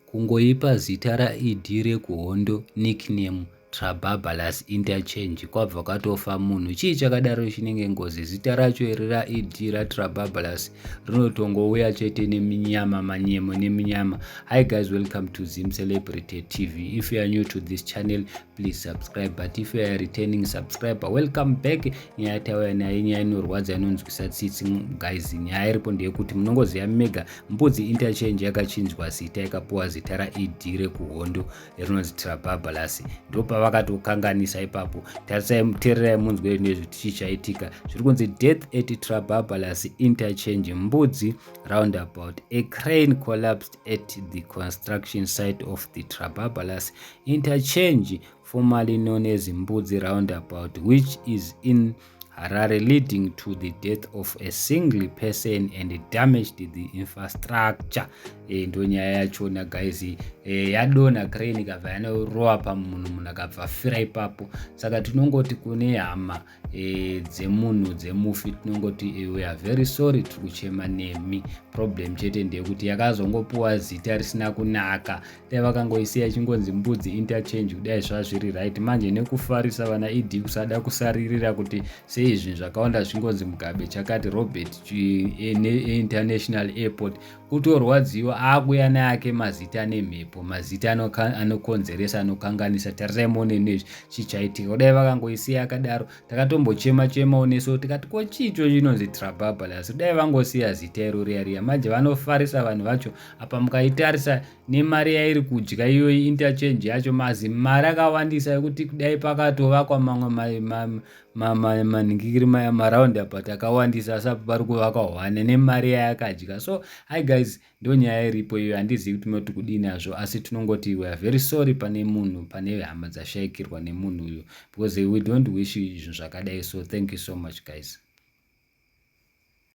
Kungoipa zita raED rekuhondo nickname Trababalous interchange kwabva kwatofa munhu. Chii chakadaro chinenge ngozi? Zita racho iri raED raTrababalous rinotongouya chete neminyama manyemo neminyama. Hi guys, welcome to Zim Celebrity TV. If you are new to this channel, please subscribe. But if you are a returning subscriber, welcome back. Nyaya tauya nayo nyaya inorwadza inonzwisa tsitsi guys. Nyaya iripo ndeyekuti munongoziva mega Mbudzi Interchange yakachinjwa zita ikapuwa zita raED rekuhondo rinonzi Trababalasi. Ndopavakatokanganisa ipapo. Tarisai tererai munzwe nezve tichi chaitika. Zviri kunzi death at Trababalasi Interchange Mbudzi roundabout. A crane collapsed at the construction site of the Trababalasi Interchange formerly known as Mbudzi roundabout which is in Harare leading to the death of a single person and damaged the infrastructure e, ndo nyaya yachona guys e, eh, yadona crane ikabva yanorowa pamunhu munhu akabva fira ipapo saka tinongoti kune hama e, dzemunhu dzemufi tinongoti e, we are very sorry tiri kuchema nemi problem chete ndeyekuti yakazongopuwa zita risina kunaka dai vakangoisiya ichingonzi mbudzi interchange kudai zvazviri right manje nekufarisa vana ed kusada kusaririra kuti sei zvinhu zvakawanda zvingonzi mugabe chakati robert eh, eh, international airport kutorwadziwa akuya neake mazita nemhepo mazita anokonzeresa anokanganisa tarirai mone nezvi chichaitika kudai vakangoisiya akadaro takatombochema chemawo neso tikati ko chicho chinonzi trababalas kudai vangosiya zita iro riya riya manje vanofarisa vanhu vacho apa mukaitarisa nemari yairi kudya iyoyi interchange yacho mazi mari akawandisa yekuti kudai pakatovakwa mamwe manhingikiri maraundi apa takawandisa asi apa pari kuvakwa hwane nemari yayakadya so hi guys ndo nyaya iripo iyo handizivi kuti munoti kudii nazvo asi tinongoti weare very sorry pane munhu pane hama dzashaikirwa nemunhu uyu because we don't wish izvinhu zvakadai so thank you so much guys